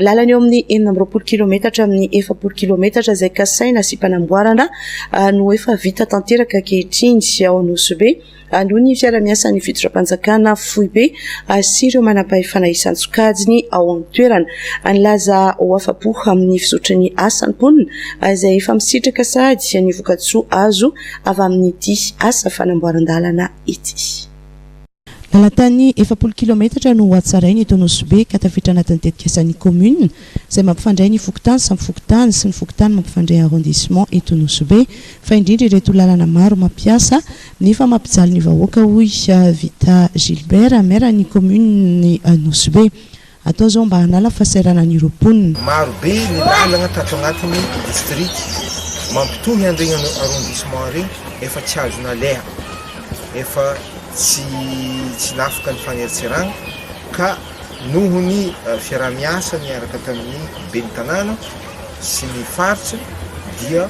Lalana eo amin'ny enina amby roapolo kilometatra amin'ny efapolo kilometatra izay kasaina sy mpanamboarana no efa vita tanteraka ankehitriny ao Anosibe aloha ny fiara-miasan'ny fitondram-panjakana foibe sy ireo manam-pahefana isan-tsokajiny ao an-toerana. Nilaza ho afa-po amin'ny fizotry ny asa ny mponina izay efa misitraka sahady ny vokatsoa azo avy amin'ity asa fanamboaran-dalana ity. Lalan-tany efapolo kilaometatra no hohatsaraina eto Nosy-Be ka tafiditra anatin'ny tetikasan'ny kaominina izay mampifandray ny fokontany samy fokontany sy ny fokontany mampifandray arrondissement eto Nosy-Be fa indrindra ireto lalana maro mampiasa nefa mampijaly ny vahoaka hoy Vita Gilbert, maire-n'ny kaominin'i Nosy-Be. Atao zao mba hanala fahasahiranana ireo mponina. Maro be ny lalagna tato agnatiny district mampitohy an regny arrondissement regny efa tsy azo naleha efa tsy tsy nafaka ny fagneritseragna ka noho ny fiaraha miasa niaraka tamy ny ben'ny tanàna sy ny faritsy dia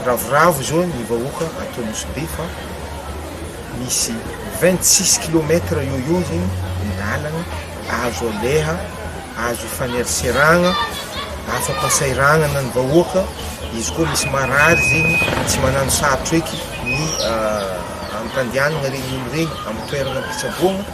ravoravo zao ny vahoaka ato Nosy Be fa Misy vingt six kilomètre eo eo zegny ny lalagna azo aleha, azo ifaneraseragna, afa-pasairagnana ny vahoaka, izy koa misy marary zegny tsy magnano sarotra eky ny amim-pandianana regny olo regny amin'ny toerana am-pitsaboana.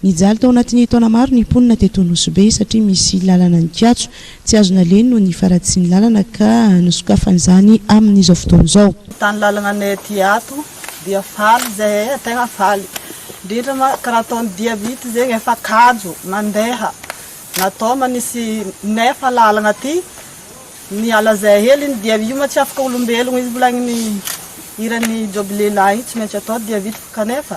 Nijaly tao anatin'ny taona maro ny mponina teto Nosy-Be satria misy lalana nikatso, tsy azo naleiny noho ny faratsian'ny lalana ka nosokafany izany amin'izao fotoana izao. Ny tany lalananay aty ato dia faly izahay e, tegna faly indrindra ma ka raha ataon'ny dia vita zegny efa kajo mandeha na tao manisy nefa lalagna aty miala zay hely iny dia io ma tsy afaka olombelogno izy mbola ny hiran'i Joby lehilahy io tsy maintsy atao dia vita kanefa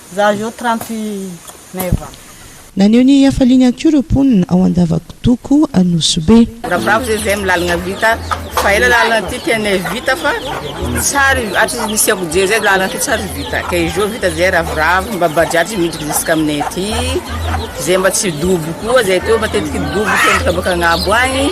Za zao trente neuf ans. Naneho ny hafaliany ihany koa ireo mponina ao Andavakodoko Anosibe. Rabrabo zay zay milalagna vita fa ela lalagna ty tianay vita fa tsary atry ny nisiako jery zay lalagna ty tsary vita ka izy zao vita zay ravoravo mba bajaj miditra ziska aminay aty zay mba tsy dobo koa zay teo matetiky dobo teo mitabaka agnabo agny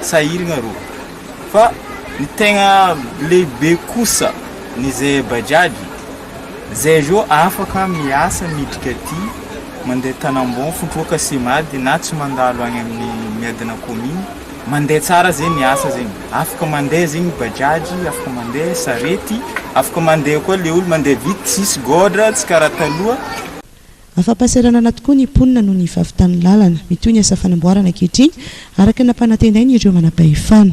sahiragna rô. Fa ny tegna lehibe kosa ny ze bajaj zay zao afaka miasa miditra aty mandeha tanambao mitroka simady na tsy mandalo any amin'ny miadana commune mandeha tsara zegny ny asa zegny afaka mandeha zegny bajaj afaka mandeha sarety afaka mandeha koa le olo mandeha vity tsisy gôdra tsy karaha taloha Afa-pahasahiranana tokoa ny mponina noho ny fahavitan'ny lalana. Mitohy ny asa fanamboarana ankehitriny, araka ny nampanantenain'ireo manampahefana.